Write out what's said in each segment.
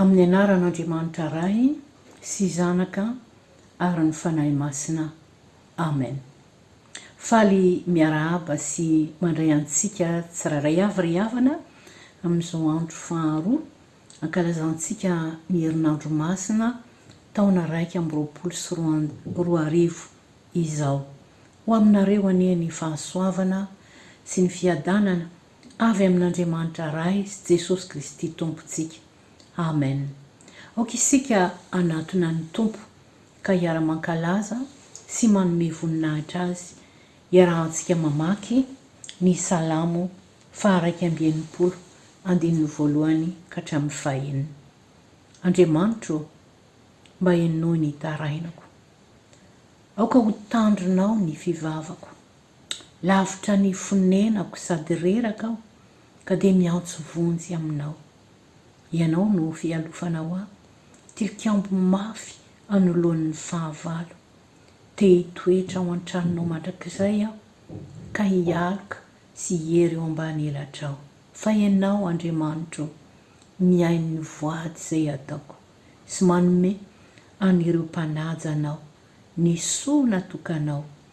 Amin'ny anaran'Andriamanitra Ray sy Zanaka ary ny Fanahy Masina. Amen. Faly miarahaba sy mandray antsika tsirairay avy ry havana amin'izao andro faharoa ankalazantsika ny herinandro masina taona iraika amby roapolo sy roa arivo izao. Ho aminareo anie ny fahasoavana sy ny fiadanana Avy amin'Andriamanitra Ray sy Jesosy Kristy Tompontsika. Amen. Aoka isika hanatona ny Tompo ka hiara-mankalaza sy manome voninahitra Azy. Iarahantsika mamaky ny Salamo faha-iraika amby enimpolo, andininy voalohany ka hatramin'ny fahenina. Andriamanitro ô, mba henoy ny tarainako. Aoka ho tandrinao ny fivavako. Lavitra ny fonenako sady reraka aho ka dia miantso vonjy aminao. Ianao no fialofana ho ahy, tilikambo mafy anoloan'ny fahavalo. Te hitoetra ao an-tranonao mandrakizay aho ka hialoka sy hiery eo ambany elatrao. Fa ianao, Andriamanitro ô, mihaino ny voady izay ataoko sy manome an'ireo mpanaja anao ny soa natokanao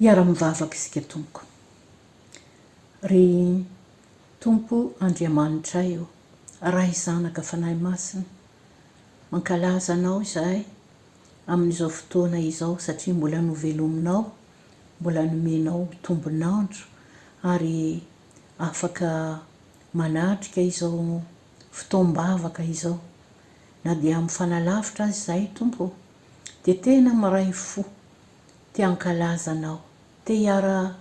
Hiara mivavaka isika tompoko. Ry Tompo Andriamanitray ô, Ray Zanaka Fanahy Masina, mankalaza Anao izahay amin'izao fotoana izao satria mbola novelominao, mbola nomenao tombon'andro ary afaka manatrika izao fotoam-bavaka izao, na dia mifanalavitra aza izahay Tompo ô, dia tena miray fo te hankalaza Anao, te hiara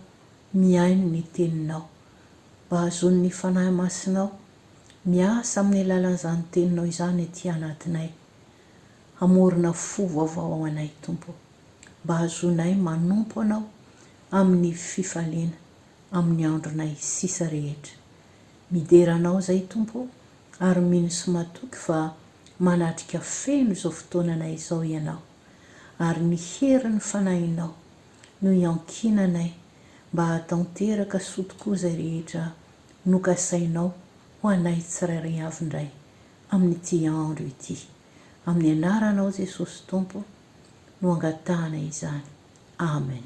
mihaino ny Teninao, mba hahazoan'ny Fanahy Masinao miasa amin'ny alalan'izany Teninao izany ety anatinay, hamorona fo vaovao ao anay Tompo, mba hahazoanay manompo Anao amin'ny fifaliana amin'ny andronay sisa rehetra. Midera Anao izay Tompo o, ary mino sy matoky fa manatrika feno izao fotoananay izao Ianao, ary ny herin'ny Fanahinao no iankinanay mba hahatanteraka soa tokoa izay rehetra nokasainao ho anay tsirairay avy indray amin'ity andro ity. Amin'ny Anaranao Jesosy Tompo no angatahana izany. Amen.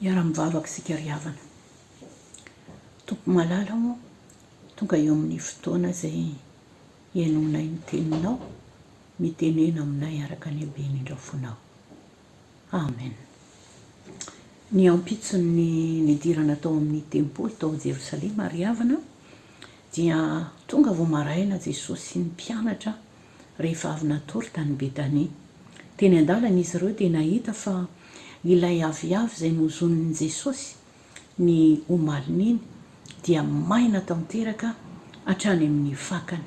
Hiara-mivavaka isika ry havana. Tompo malala ô, tonga eo amin'ny fotoana izay henoinay ny teninao, mitenena aminay araka ny habeny indrafonao. Amen. Ny ampitson'ny nidirana tao amin'ny tempoly tao Jerosalema ry havana dia tonga vao maraina Jesosy sy ny mpianatra rehefa avy natory tany Betania. Teny an-dalana izy ireo dia nahita fa ilay aviavy izay nozonin'i Jesosy ny omalin'iny dia maina tanteraka hatrany amin'ny fakany.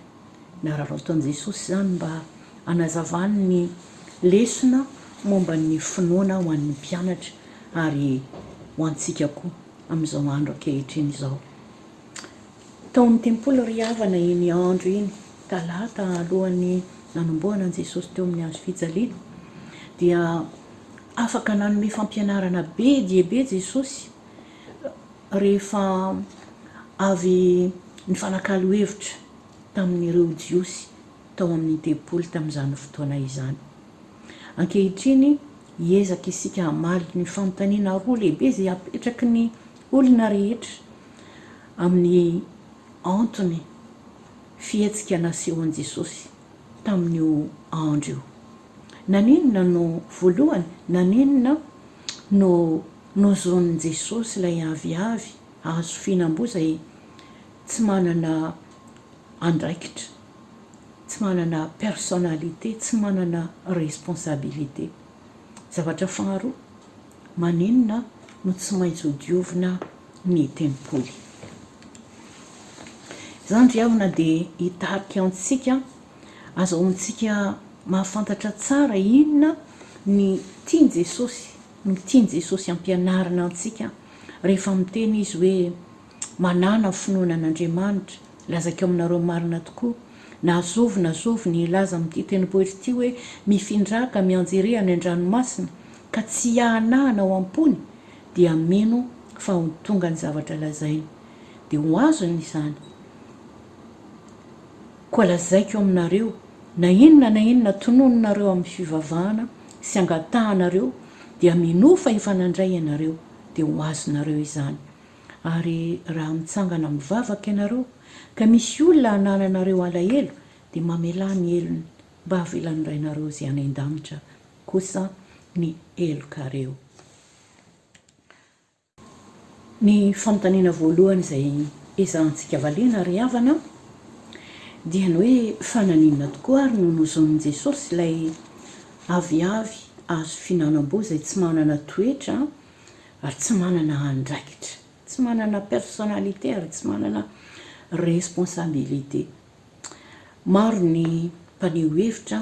Nararaotin'i Jesosy izany mba hanazavany ny lesona momba ny finoana ho an'ny mpianatra ary ho antsika koa amin'izao andro ankehitriny izao. Tao amin'ny tempoly ry havana iny andro iny talata alohan'ny nanombohana an'i Jesosy teo amin'ny hazo fijaliana dia afaka nanome fampianarana be dia be Jesosy rehefa avy nifanakalo hevitra tamin'ireo Jiosy tao amin'ny tempoly tamin'izany fotoana izany. Ankehitriny hiezaka isika hamaly ny fanontaniana roa lehibe izay apetraky ny olona rehetra amin'ny antony fihetsika nasehon'i Jesosy tamin'io andro io. Naninona no, voalohany, naninona no nozonin'i Jesosy ilay aviavy hahazo fihinam-boa izay tsy manana andraikitra, tsy manana personnalité, tsy manana responsabilité? Zavatra faharoa, maninona no tsy maintsy hodiovina ny tempoly. Izany ry havana dia hitarika antsika, azahoantsika mahafantatra tsara inona ny tian'i Jesosy, no tian'i Jesosy hampianarina antsika rehefa miteny Izy hoe, Manàna finoana an'Andriamanitra, lazaiko aminareo marina tokoa, na zovy na zovy ny hilaza amin'ity tendrombohitra ity hoe, Mifindraka mianjera eha any an-dranomasina, ka tsy hiahanahana ao am-pony, dia mino fa ho tonga ny zavatra lazainy, dia ho azony izany. Koa lazaiko aminareo, na inona na inona tononinareo amin'ny fivavahana sy angatahanareo, dia minoa fa efa nandray ianareo, dia ho azonareo izany. Ary raha mitsangana mivavaka ianareo, ka misy olona anananareo alahelo, dia mamelà ny helony, mba havelan'ny Rainareo izay any an-danitra kosa ny helokareo. Ny fanontaniana voalohany izay ezahantsika valiana ry havana dia ny hoe fa naninona tokoa ary no nozonin'i Jesosy ilay aviavy azo fihinanam-boa izay tsy manana toetra ary tsy manana andraikitra, tsy manana personnalité ary tsy manana responsabilité. Maro ny mpaneho hevitra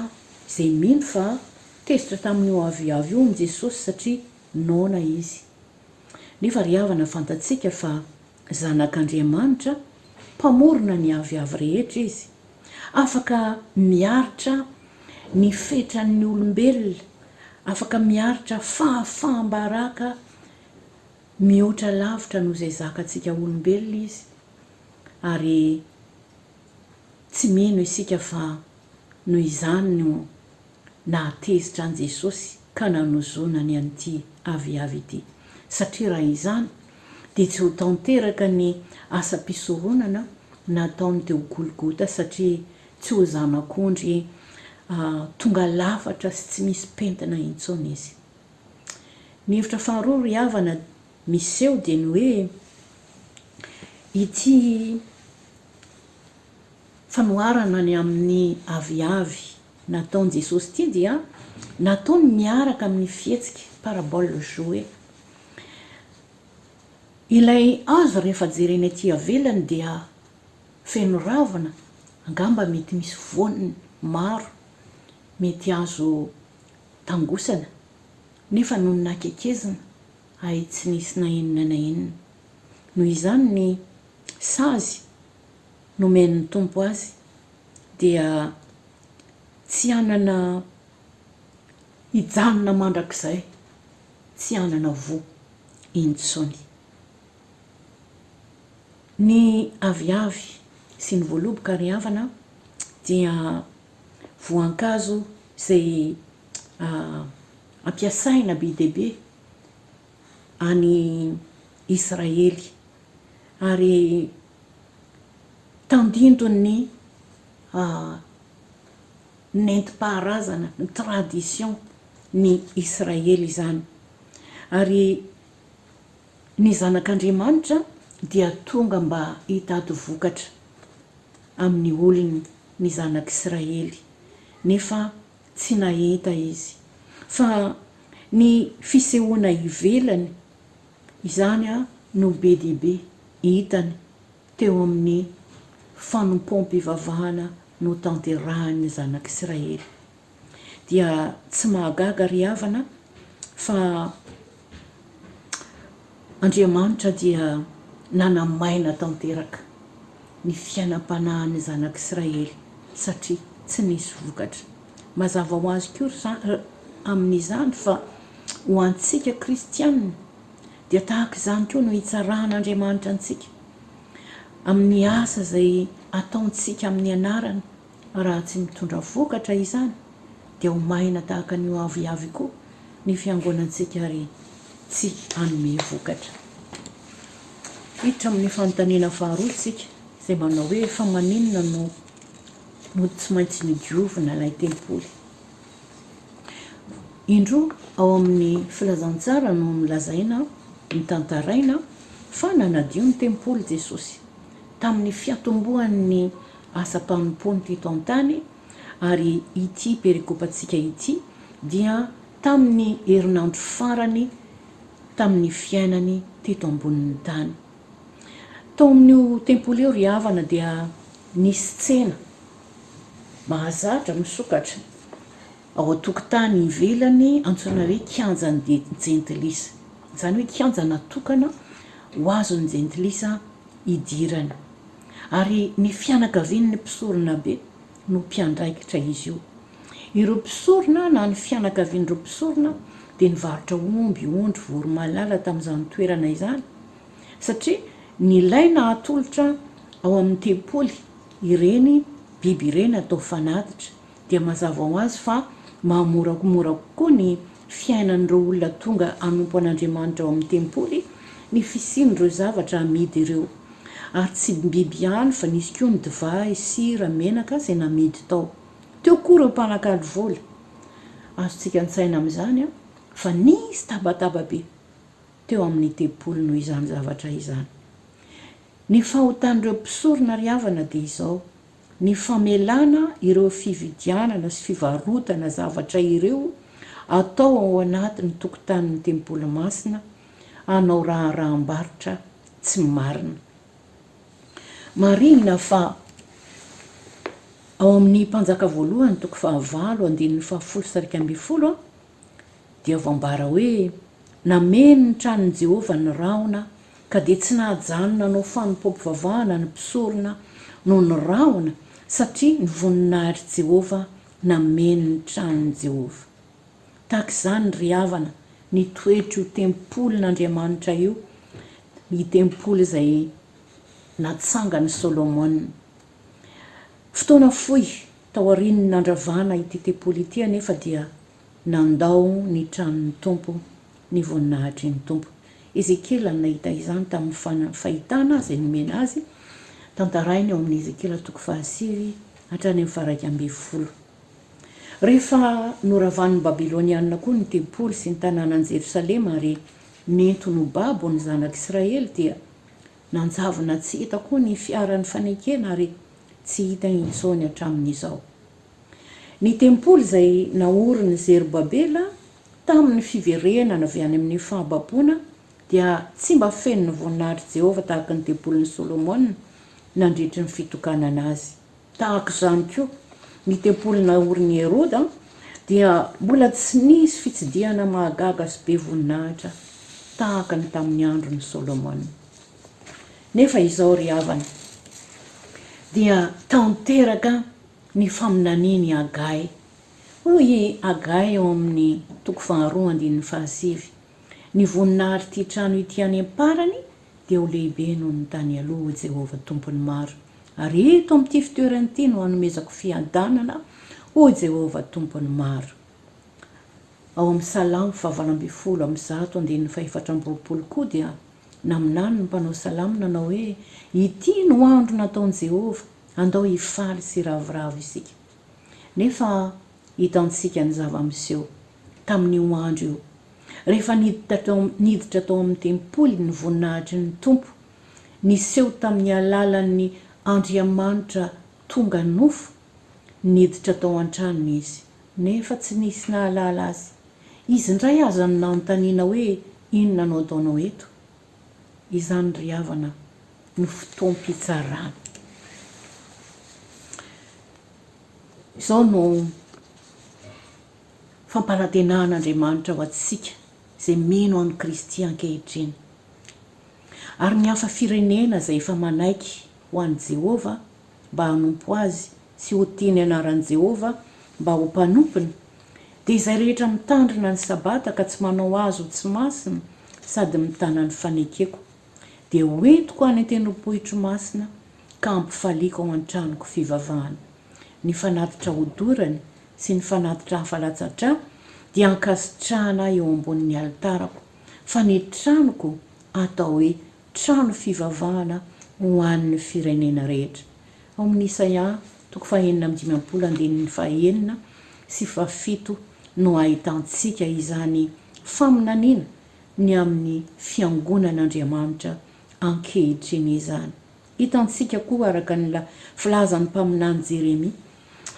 izay mino fa tezitra tamin'io aviavy io i Jesosy satria noana izy. Nefa ry havana fantatsika fa Zanak'Andriamanitra, Mpamorona ny aviavy rehetra izy. Afaka miaritra ny fetran'ny olombelona, afaka miaritra fahafaham-baraka mihoatra lavitra noho izay zakantsika olombelona izy. ary tsy mino isika fa noho izany no nahatezitra an'i Jesosy ka nanozonany an'ity aviavy ity. Satria raha izany dia tsy ho tanteraka ny asam-pisoronana nataony teo Golgota satria tsy ho zanak'ondry tonga lafatra sy tsy misy pentina intsony izy. Ny hevitra faharoa ry havana miseho dia ny hoe ity fanoharana ny amin'ny aviavy nataon'i Jesosy ity dia nataony miaraka amin'ny fihetsika, parabole jouée. Ilay hazo rehefa jerena ety avelany dia feno ravina, angamba mety misy voany maro, mety azo tangosana, nefa nony nakekezina, ahy tsy nisy na inona na inona. Noho izany ny sazy nomen'ny Tompo azy dia tsy hanana hijanona mandrakizay, tsy hanana voa intsony. Ny aviavy sy ny voaloboka ry havana dia voankazo izay ampiasaina be dia be any Israely, ary tandindon'ny nentim-paharazana, ny tradition, ny Israely izany. Ary ny Zanak'Andriamanitra dia tonga mba hitady vokatra amin'ny olony, ny Zanak'Israely, nefa. tsy nahita izy. Fa ny fisehoana ivelany, izany no be dia be hitany teo amin'ny fanompoam-pivavahana notanterahin'ny zanak'Israely. Dia tsy mahagaga ry havana fa. Andriamanitra dia nanamaina tanteraka ny fiainam-panahin'ny zanak'Israely satria tsy nisy vokatra. Mazava ho azy koa amin'izany fa ho antsika kristiana dia tahaka izany koa no hitsarahan'Andriamanitra antsika amin'ny asa izay ataontsika amin'ny anarany. Raha tsy mitondra vokatra izany dia ho mahina tahaka ny hoaviavy koa ny fiangonantsika ary tsy hanome vokatra. Hiditra amin'ny fanontaniana faharoa isika izay manao hoe fa maninona no no tsy maintsy nodiovina ilay tempoly. Indroa ao amin'ny filazantsara no nolazaina, notantaraina fa nanadio ny tempoly Jesosy tamin'ny fiatombohan'ny asam-panompoany teto an-tany, ary ity perikopantsika ity dia tamin'ny herinandro farany tamin'ny fiainany teto ambonin'ny tany. Tao amin'io tempoly io ry havana dia nisy tsena mahazatra misokatra ao an-tokotany ivelany antsoina hoe kianjan'ny jentilisa, izany hoe kianja natokana ho azon'ny jentilisa hidirany. ary ny fianakavian'ny mpisoronabe no mpiandraikitra izy io. Ireo mpisorona na ny fianakavian'ireo mpisorona dia nivarotra omby, ondry, voromailala tamin'izany toerana izany satria nilaina hatolotra ao amin'ny tempoly ireny biby ireny atao fanatitra. dia mazava ho azy fa mahamoramora kokoa ny fiainan'ireo olona tonga hanompo an'Andriamanitra ao amin'ny tempoly ny fisian'ireo zavatra amidy ireo. Ary tsy biby ihany fa nisy koa ny divay, sira, menaka izay namidy tao. Teo koa ireo mpanakalo vola. Azontsika an-tsaina amin'izany fa nisy tabataba be teo amin'ny tempoly noho izany zavatra izany. Ny fahotan'ireo mpisorona ry havana dia izao, ny famelana ireo fividianana sy fivarotana zavatra ireo atao ao anatin'ny tokotanin'ny tempoly masina hanao raharaham-barotra tsy marina. Marihina fa ao amin'ny Mpanjaka Voalohany toko fahavalo, andininy fahafolo sy iraika ambin'ny folo, Dia voambara hoe, Nameno ny tranon'i Jehovah ny rahona, ka dia tsy nahajanona nanao fanompoam-pivavahana ny mpisorona noho ny rahona, satria ny voninahitr'i Jehovah nameno ny tranon'i Jehovah. Tahaka izany ry havana ny toetr'io tempolin'Andriamanitra io, ny tempoly izay natsangan'i Solomona. Fotoana fohy taorian'ny nandravana ity tempoly ity anefa dia Nandao ny tranon'ny Tompo ny voninahitry ny Tompo. Ezekiela no nahita izany tamin'ny fahitana izay nomena azy. Tantarainy ao amin'ny Ezekiela toko fahasivy hatrany amin'ny faharaika ambin'ny folo. Rehefa noravan'ny Babylonianina koa ny tempoly sy ny tanànan'i Jerosalema ary nentiny ho babo ny zanak'Israely dia nanjavona tsy hita koa ny fiaran'ny fanekena ary tsy hita intsony hatramin'izao. Ny tempoly izay naorin' i Zerobabela tamin' ny fiverenana avy any amin' ny fahababoana dia tsy mba feno ny voninahitr' i Jehovah tahaka ny tempolin' i Solomona nandritry ny fitokanana azy. Tahaka izany koa, ny tempoly naorin' i Heroda dia mbola tsy nisy fitsidihana mahagaga sy be voninahitra tahaka ny tamin' ny andron' i Solomona. Nefa izao ry havana, dia tanteraka ny faminanian'i Hagay. Hoy i Hagay ao amin'ny toko faharoa andininy fahasivy, Ny voninahitr'ity trano ity any am-parany dia ho lehibe noho ny tany aloha, hoy Jehovah Tompon'ny maro, ary eto amin'ity fitoerana ity no hanomezako fiadanana, hoy Jehovah Tompon'ny maro. Ao amin'ny Salamo fahavalo ambin'ny folo amby zato andininy fahefatra amby roapolo koa dia naminany ny mpanao salamo nanao hoe, Ity no andro nataon'i Jehovah, Andao hifaly sy hiravoravo isika. Nefa hitantsika ny zava-miseho. Tamin'io andro io, rehefa niditra tao amin'ny tempoly ny voninahitry ny Tompo, niseho tamin'ny alalan'ny Andriamanitra tonga nofo, niditra tao an-tranony Izy, nefa tsy nisy nahalala Azy. Izy indray aza no nanontaniana hoe, Inona no ataonao eto? izany ry havana no fotoam-pitsarana. Izao no fampanantenan'Andriamanitra ho antsika izay mino an'i Kristy ankehitriny. Ary ny hafa firenena izay efa manaiky ho an'i Jehovah mba hanompo azy sy ho tia ny anaran'i Jehovah mba ho mpanompony, dia izay rehetra mitandrina ny Sabata ka tsy manao azy ho tsy masina sady mitana ny fanekeko, dia hoentiko any an-tendrompohitro masina ka hampifaliako ao an-tranoko fivavahana. Ny fanatitra hodorany sy ny fanatitra hafa latsa-drà dia hankasitrahana ahy eo ambonin'ny alitarako, fa ny tranoko hatao hoe Trano fivavahana ho an'ny firenena rehetra, ao amin'ny Isaia toko fahenina amby dimampolo andininy fahenina sy fahafito no ahitantsika izany faminaniana ny amin'ny fiangonan'Andriamanitra ankehitriny izany. Hitantsika koa araka ny filazan'ny mpaminany Jeremia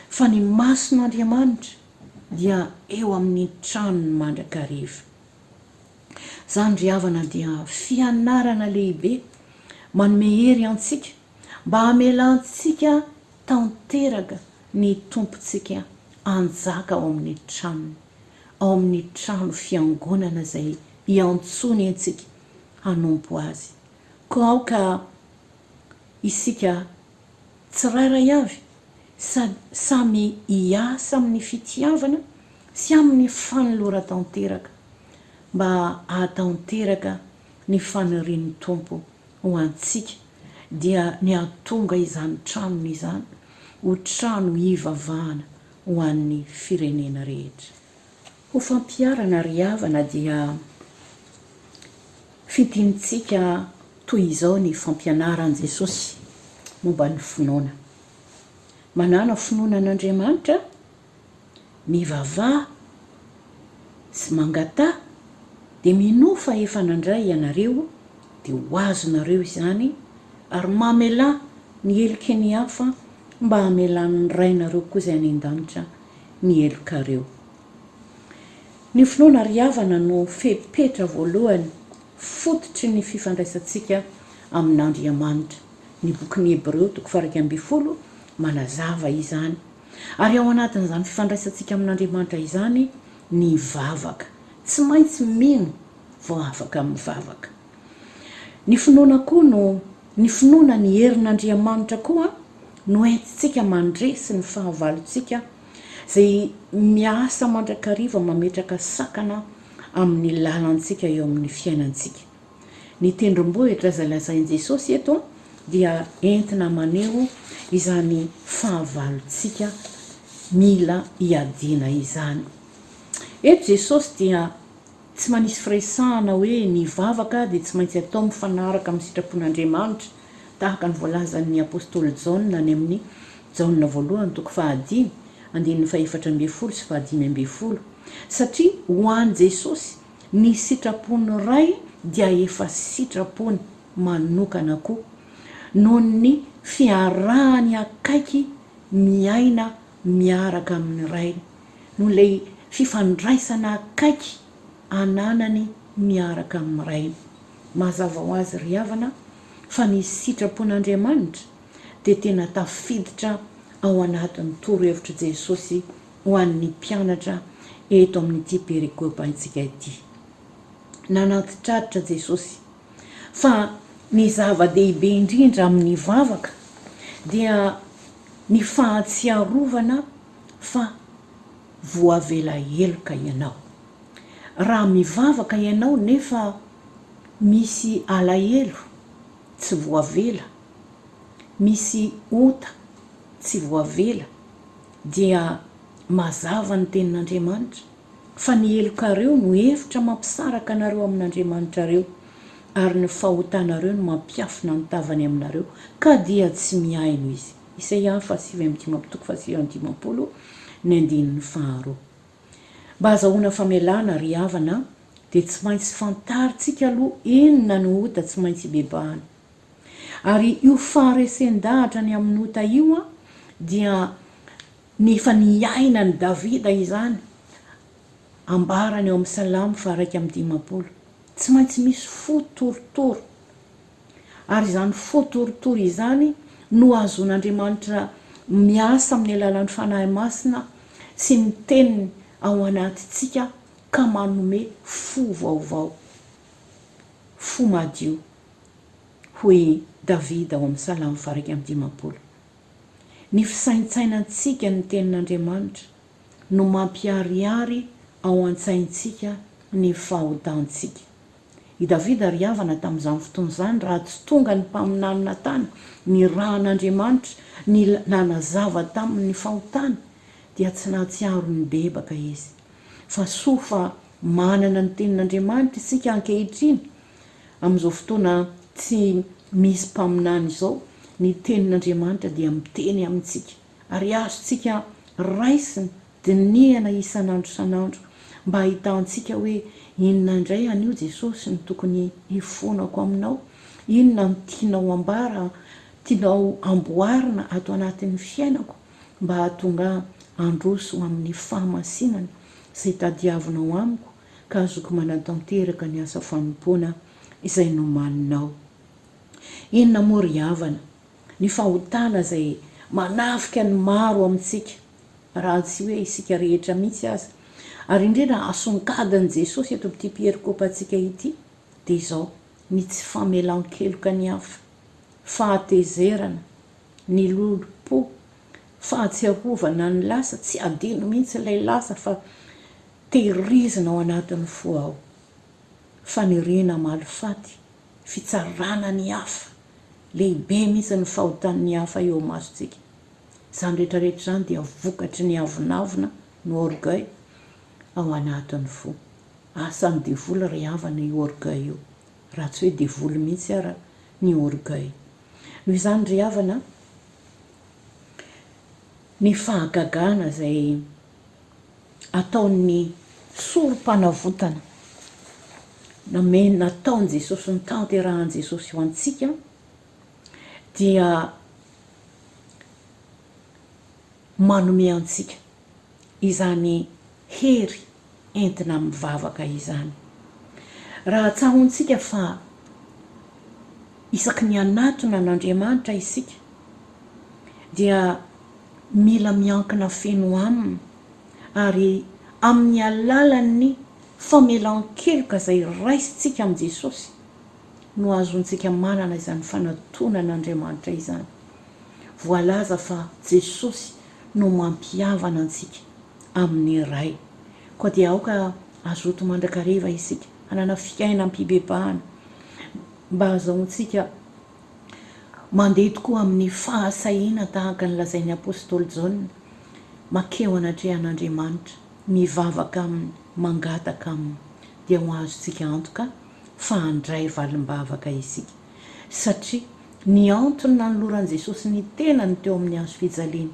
fa ny mason'Andriamanitra dia eo amin'ny tranony mandrakariva. Izany ry havana dia fianarana lehibe manome hery antsika mba hamelantsika tanteraka ny Tompontsika hanjaka ao amin'ny tranony, ao amin'ny trano fiangonana izay iantsoany antsika hanompo Azy. Koa aoka isika tsirairay avy sady samy hiasa amin'ny fitiavana sy amin'ny fanoloran-tanteraka mba hahatanteraka ny fanirian'ny Tompo ho antsika dia ny hahatonga izany tranony izany ho trano hivavahana ho an'ny firenena rehetra. Ho fampiharana ry havana dia fidinitsika toy izao ny fampianaran'i Jesosy momba ny finoana, Manàna finoana an'Andriamanitra, mivavaha sy mangataha dia minoa fa efa nandray ianareo dia ho azonareo izany ary mamelà ny heliky ny hafa mba hamelan'ny Rainareo koa izay any an-danitra ny helokareo. Ny finoana ry havana no fepetra voalohany fototry ny fifandraisantsika amin'Andriamanitra. Ny bokin'ny Hebreo toko faha-iraika ambin'ny folo manazava izany. Ary ao anatin'izany fifandraisantsika amin'Andriamanitra izany ny vavaka. Tsy maintsy mino vao afaka mivavaka. Ny finoana koa no. Ny finoana ny herin'Andriamanitra koa no entintsika mandresy ny fahavalontsika izay miasa mandrakariva mametraka sakana amin'ny lalantsika eo amin'ny fiainantsika. Ny tendrombohitra izay lazain'i Jesosy eto dia entina maneho izany fahavalontsika mila iadiana izany. Eto Jesosy dia Tsy manisy firesahana hoe ny vavaka dia tsy maintsy atao mifanaraka amin'ny sitrapon'Andriamanitra, tahaka ny voalazan'ny apostoly Jaona any amin'ny Jaona voalohany toko fahadimy, andininy fahefatra ambin'ny folo sy fahadimy ambin'ny folo. Satria ho an'i Jesosy, ny sitrapon'ny Ray dia efa sitrapony manokana koa, noho ny fiarahany akaiky miaina miaraka amin'ny Rainy. noho ilay fifandraisana akaiky ananany miaraka amin'ny Rainy. Mazava ho azy ry havana fa ny sitrapon'Andriamanitra dia tena tafiditra ao anatin'ny torohevitr'i Jesosy ho an'ny mpianatra eto amin'ity perikopantsika ity. Nanantitrantitra Jesosy fa ny zava-dehibe indrindra amin'ny vavaka dia ny fahatsiarovana fa voavela heloka ianao. Raha mivavaka ianao nefa misy alahelo tsy voavela, misy ota tsy voavela, dia mazava ny Tenin'Andriamanitra fa ny helokareo no efitra mampisaraka anareo amin'Andriamanitrareo, ary ny fahotanareo no mampiafina ny tavany aminareo, ka dia tsy mihaino Izy. Isaia faha sivy amby dimampolo toko faha sivy amby dimampolo, ny andininy faharoa. Mba hazahoana famelana, ry havana, dia tsy maintsy fantarintsika aloha inona no ota tsy maintsy ibebahana. Ary io faharesen-dahatra ny amin'ny ota io dia ny efa niainan'i Davida izany, ambarany ao amin'ny Salamo faha iraika amby dimampolo. Tsy maintsy misy fo torotoro ary izany fo torotoro izany no ahazoan'Andriamanitra miasa amin'ny alalan'ny Fanahy Masina sy ny Teniny ao anatintsika ka manome fo vaovao, fo madio. Hoy i Davida ao amin'ny Salamo faha-iraika amby dimampolo, Ny fisaintsainantsika ny Tenin'Andriamanitra no mampiharihary ao an-tsaintsika ny fahotantsika. I Davida ry havana tamin'izany fotoana izany raha tsy tonga ny mpaminany Natana nirahan'Andriamanitra ny nanazava taminy ny fahotany dia tsy nahatsiaro ny bebaka izy. Fa soa fa manana ny tenin'Andriamanitra isika ankehitriny amin'izao fotoana tsy misy mpaminany izao, ny tenin'Andriamanitra dia miteny amintsika. ary azontsika raisina dinihana isan'andro isan'andro mba hahitantsika hoe inona indray anio Jesosy no tokony hifonako aminao, inona no tianao hambara, tianao hamboarina ato anatin'ny fiainako mba hahatonga ahy handroso ho amin'ny fahamasinana izay tadiavinao amiko ka azoko manatanteraka ny asa fanompoana izay nomaninao. Inona moa ry havana? ny fahotana izay manafika ny maro amintsika, raha tsy hoe isika rehetra mihitsy aza, ary indrindra asongadin'i Jesosy eto amin'ity pierikopantsika ity, dia izao, ny tsy famelan-keloka ny hafa, fahatezerana, ny lolom-po, fahatsiarovana ny lasa, tsy adino mihitsy ilay lasa fa tehirizina ao anatin'ny fo ao, faniriana hamaly faty, fitsarana ny hafa, lehibe mihitsy ny fahotan'ny hafa eo imasontsika. Izany rehetra rehetra izany dia vokatry ny avonavona no orgueil ao anatin'ny fo. Asan'ny devoly ry havana io orgueil io, raha tsy hoe devoly mihitsy ara ny orgueil. Noho izany ry havana, ny fahagagana izay. ataon'ny Sorompanavotana namen nataon'i Jesosy notanterahan'i Jesosy ho antsika dia manome antsika izany hery entina mivavaka izany. Raha tsahontsika fa isaky ny hanatona an'Andriamanitra isika dia Mila miankina feno Aminy ary amin'ny alalan'ny famelan-keloka izay raisintsika amin'i Jesosy no azontsika manana izany fanatonan'Andriamanitra izany. Voalaza fa Jesosy no mampihavana antsika amin'ny Ray. Koa dia aoka hazoto mandrakariva isika, hanana fiainam-pibebahana mba hahazoantsika. Mandeha tokoa amin'ny fahasahiana tahaka ny lazain'ny apostoly Jaona, Makeo anatrehan'Andriamanitra, mivavaka aminy, mangataka aminy, dia ho azontsika antoka fa handray valim-bavaka isika. Satria ny antony nanoloran'i Jesosy ny tenany teo amin'ny hazo fijaliana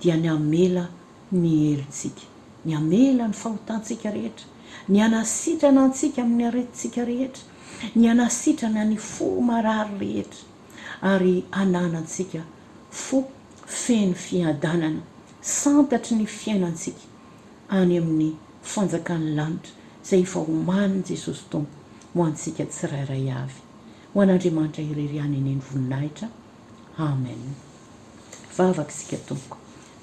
dia ny hamela ny helotsika, ny hamela ny fahotantsika rehetra, ny hanasitrana antsika amin'ny aretintsika rehetra, ny hanasitrana ny fo marary rehetra, ary hananantsika fo feno fiadanana, santatry ny fiainantsika any amin'ny fanjakan'ny lanitra izay efa omanin'i Jesosy Tompo ho antsika tsirairay avy. Ho an'Andriamanitra irery ihany anie ny voninahitra. Amen. Vavaka isika tompoko.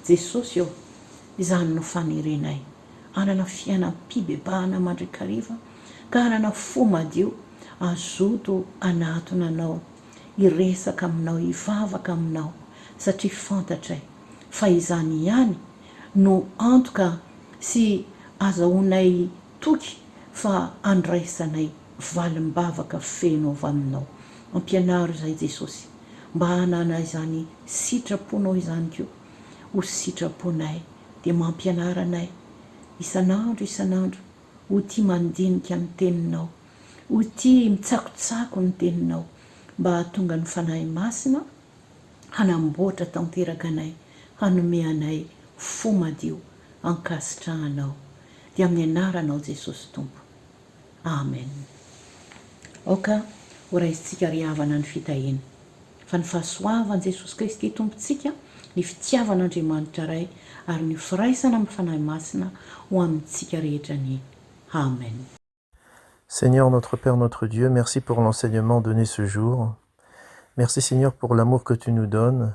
Jesosy ô, izany no fanerenay hanana fiainam-pibebahana mandrakariva ka hanana fo madio hazoto hanatona Anao, hiresaka Aminao, hivavaka Aminao satria fantatray fa izany ihany no antoka sy azahoanay toky fa andraisanay valim-bavaka feno avy aminao. Ampianaro izahay Jesosy mba hanana izany sitraponao izany koa ho sitraponay dia mampianara anay isan'andro isan'andro ho tia mandinika ny teninao, ho tia mitsakotsako ny teninao mba hahatonga ny Fanahy Masina hanamboatra tanteraka anay hanome anay fo madio ankasitrahanao dia amin'ny anaranao Jesosy Tompo. Amen. Aoka ho raisintsika ry havana ny fitahiana, fa ny fahasoavan'i Jesosy Kristy Tompontsika, ny fitiavan'Andriamanitra Ray, ary ny firaisana amin'ny Fanahy Masina ho amintsika rehetra ny. Amen. Seigneur notre Père notre Dieu merci pour l'enseignement donné ce jour merci Seigneur pour l'amour que tu nous donnes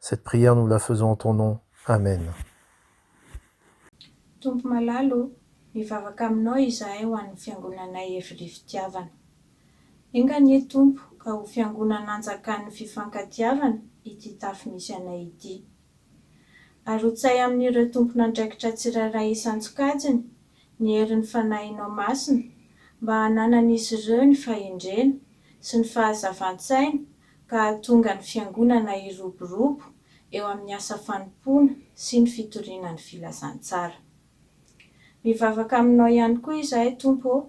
Cette prière nous la faisons en ton nom. Amen. Tompo malala o, mivavaka Aminao izahay ho an'ny Fiangonanay Evry Fitiavana. Enga anie Tompo ka ho Fiangonana anjakan'ny fifankatiavana ity tafo misy anay ity. Arotsay amin'ireo tompon'andraikitra tsirairay isan-tsokajiny ny herin'ny Fanahinao Masina mba hananan'izy ireo ny fahendrena sy ny fahazavan-tsaina ka hahatonga ny Fiangonana hiroborobo eo amin'ny asa fanompoana sy ny fitoriana ny filazantsara. Mivavaka aminao ihany koa izahay, Tompo ô,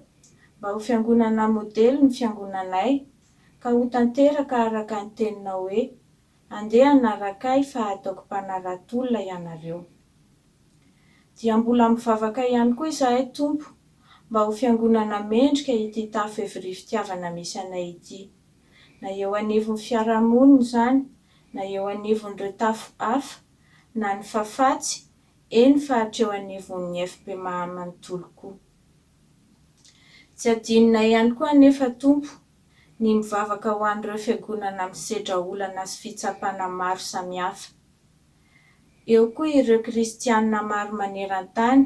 mba ho Fiangonana modely ny Fiangonanay, ka ho tanteraka araka ny Teninao hoe, Andeha hanaraka Ahy fa hataoko mpanarato-olona ianareo. Dia mbola mivavaka ihany koa izahay, Tompo, mba ho Fiangonana mendrika ity tafo evi-ry fitiavana misy anay ity. na eo anivon'ny fiarahamonina izany, na eo anivon'ireo tafo hafa, na ny fafatsy, eny fa hatreo anivon'ny FPMA manontolo koa. Tsy adinonay ihany koa anefa, Tompo, ny mivavaka ho an'ireo fiangonana misedra olana sy fitsapana maro samihafa. Eo koa ireo kristiana maro maneran-tany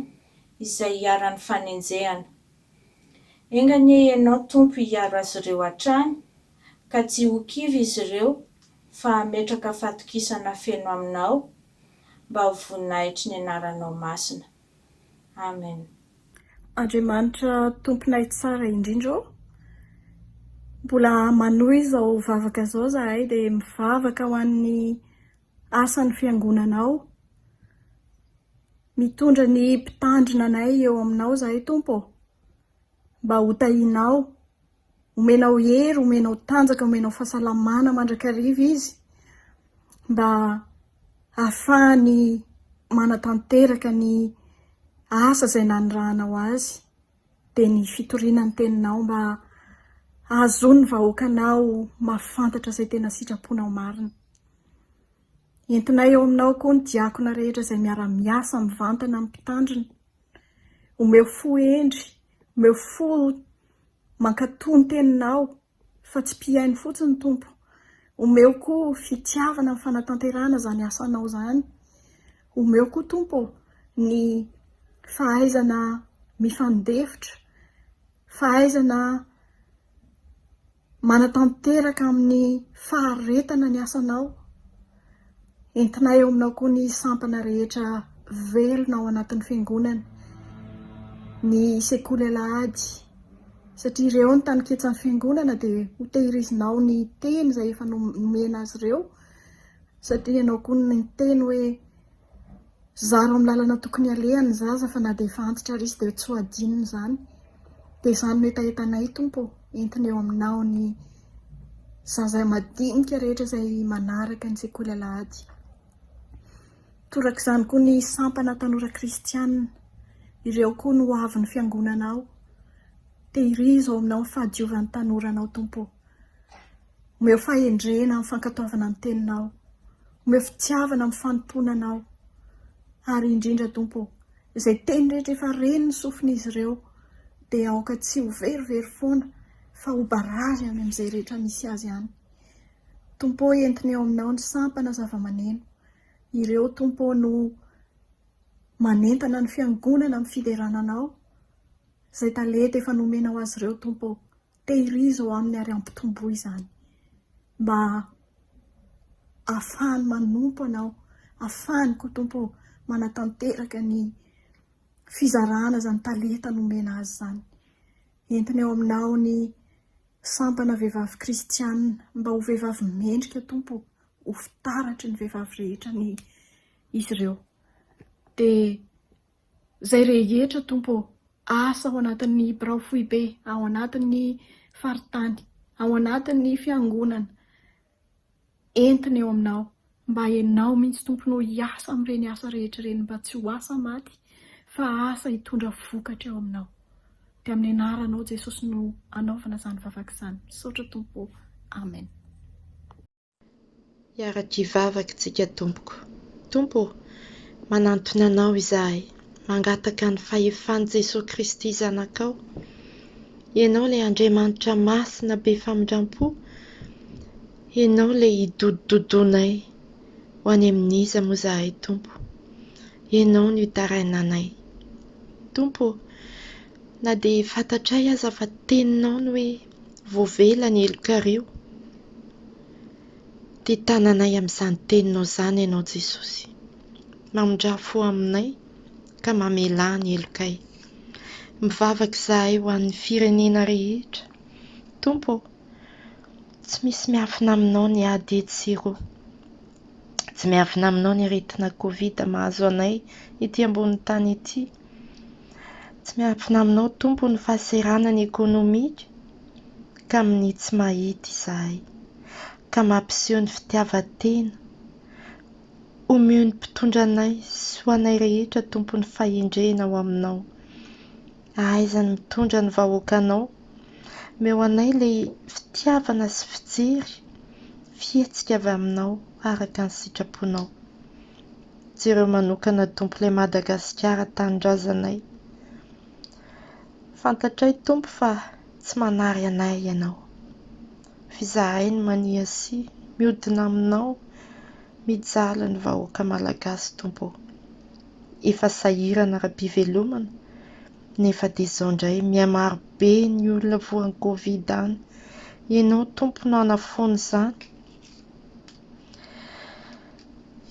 izay iharan'ny fanenjehana. Enga anie Ianao, Tompo, hiaro azy ireo hatrany, ka tsy ho kivy izy ireo, fa hametraka fatokisana feno Aminao, mba ho voninahitry ny Anaranao masina. Amen. Andriamanitra Tomponay tsara indrindra ô! Mbola manohy izao vavaka izao izahay dia mivavaka ho an'ny. asan'ny fiangonana ao. Mitondra ny mpitandrina anay eo aminao izahay, Tompo ô, mba hotahianao, homenao hery, homenao tanjaka, homenao fahasalamana mandrakariva izy, mba hahafahany manatanteraka ny asa izay nanirahanao azy Dia ny fitoriana ny teninao mba hahazoan'ny vahoakanao mahafantatra izay tena sitraponao marina. Entinay eo aminao koa ny diakona rehetra izay miara-miasa mivantana amin'ny Mpitandrina. Omeo fo hendry, omeo fo mankatò ny teninao, fa tsy mpihaino fotsiny Tompo, omeo koa fitiavana ny fanatanterahana izany asanao izany, omeo koa Tompo ô ny fahaizana mifandefitra, fahaizana manatanteraka amin'ny faharetana ny asanao. Entinay eo aminao koa ny sampana rehetra velona ao anatin'ny fiangonana, ny sekoly alahady, satria ireo ny taniketsan'ny fiangonana dia ho tehirizinao ny teny izay efa nomena azy ireo satria ianao koa no niteny hoe Zara ao amin'ny lalana tokony alehany ny zaza fa na dia efa antitra ary izy dia tsy ho adinony izany. Dia izany no hetahetanay Tompo ô, entina eo Aminao ny zaza madinika rehetra izay manaraka ny sekoly alahady. Torak'izany koa ny sampana tanora kristiana, ireo koa no hoavin'ny Fiangonanao. Tehirizo ao Aminao ny fahadiovan'ny tanora Anao Tompo ô. Omeo fahendrena amin'ny fankatoavana ny Teninao. Omeo fitiavana amin'ny fanompoana Anao. Ary indrindra, Tompo ô, izay teny rehetra efa ren'ny sofin'izy ireo, dia aoka tsy ho verivery foana, fa ho barazy any amin'izay rehetra misy azy any. Tompo ô, entiny ao Aminao ny sampana zava-maneno. Ireo, Tompo ô, no manentana ny Fiangonana amin'ny fiderana Anao, izay talenta efa nomenao azy ireo, Tompo ô. Tehirizo ao aminy ary ampitomboy izany mba hahafahany manompo anao, hahafahany koa Tompo ô manatanteraka ny fizarana izany talenta nomena azy izany. Entiny ao aminao ny sampana vehivavy kristiana mba ho vehivavy mendrika Tompo ô, ho fitaratry ny vehivavy rehetra ny izy ireo. Dia. Zay rehetra Tompo ô! Asa ao anatin'ny birao foibe, ao anatin'ny faritany, ao anatin'ny fiangonana, entina eo Aminao. Mba Ianao mihitsy Tompo no hiasa amin'ireny asa rehetra ireny mba tsy ho asa maty fa asa hitondra vokatra eo Aminao. Dia amin'ny anaranao Jesosy no anaovana izany vavaka izany. Misaotra Tompo ô! Amen. Hiara-kivavaka isika tompoko. Tompo ô, manantona Anao izahay, mangataka ny fahefan'i Jesoa Kristy Zanakao, Ianao ilay Andriamanitra Masina be famindram-po, Ianao ilay hidododonay, ho any amin'iza moa izahay Tompo? Ianao no hitarainanay. Tompo ô, na dia fantatray aza fa Teninao ny hoe Voavela ny helokareo. Tia tananay amin'izany teninao izany ianao Jesosy. Mamindraha fo aminay ka mamelà ny helokay. Mivavaka izahay ho an'ny firenena rehetra. Tompo ô, tsy misy miafina aminao ny ady etsy sy eroa. Tsy miafina aminao ny aretina covid mahazo anay ety ambony tany ety. Tsy miafina aminao Tompo ny fahaseranany ekonomika ka minia tsy mahita izahay ka mampiseho ny fitiavan-tena. Omeo ny mpitondra anay sy ho anay rehetra Tompo ny fahendrena ao aminao. Ahaiza ny mitondra ny vahoakanao. Meo anay ilay fitiavana sy fijery fihetsika avy aminao araka ny sitraponao. Jereo manokana Tompo ilay Madagasikara tanindrazanay. Fantatray Tompo fa tsy manary anay Ianao. F'izahay no mania sy miodina aminao mijaly ny vahoaka Malagasy Tompo ô. efa sahirana ara-pivelomana nefa dia izao indray mihamaro be ny olona voan'ny covid any, ianao Tompo no hanafoana izany,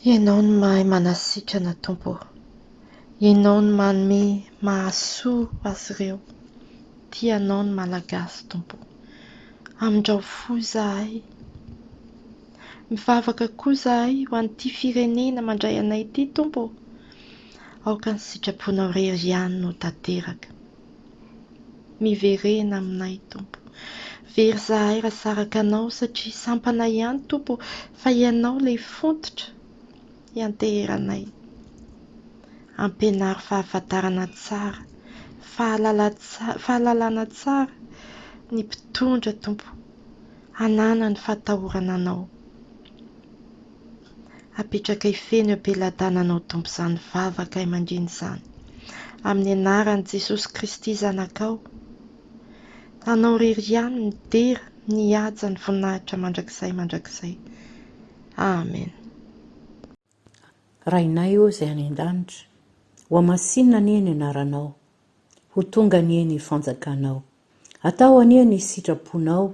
ianao no mahay manasitrana Tompo ô, ianao no manome mahasoa azy ireo, tia anao ny Malagasy Tompo ô, amindrao fo izahay. Mivavaka koa izahay ho an'ity firenena mandray anay ity Tompo ô! Aoka ny sitraponao rery ihany no tanteraka. Miverena aminay Tompo. Very izahay raha saraka anao satria sampana ihany Tompo ô fa ianao ilay fototra ianteheranay. Ampianaro fahafantarana tsara, fahalala, fahalalana tsara ny mpitondra Tompo. Hanana ny fahatahorana anao. Apetraka hifehy ny am-peladananao Tompo izany vavakay mandrina izany amin'ny anaran'i Jesosy Kristy Zanakao. Anao irery ihany midera mihaja ny voninahitra mandrakizay mandrakizay. Amen. Rainay ô izay any an-danitra, hohamasinina anie ny anaranao, ho tonga anie ny fanjakanao. Atao anie ny sitraponao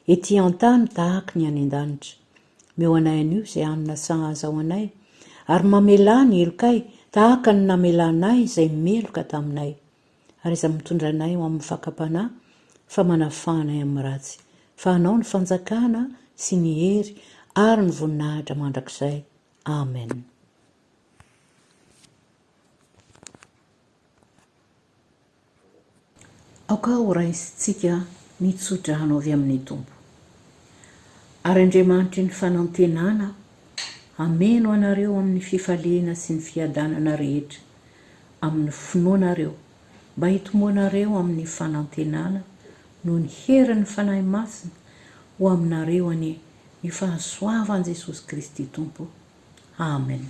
ety an-tany tahaka ny any an-danitra. Meo anay anio izay hanina sahaza ho anay, ary mamelà ny helokay tahaka ny namelanay izay meloka taminay. ary izany mitondra anay ho amin'ny fakam-panahy fa manafaha anay amin'ny ratsy, fa anao ny fanjakana sy ny hery ary ny voninahitra mandrakizay. Amen. Aoka ho raisintsika ny tso-drano avy amin'ny Tompo. Ary Andriamanitry ny fanantenana hameno anareo amin'ny fifaliana sy ny fiadanana rehetra amin'ny finoanareo, mba hitomboanareo amin'ny fanantenana noho ny herin'ny Fanahy Masina, ho aminareo anie ny fahasoavan'i Jesosy Kristy Tompo. Amen.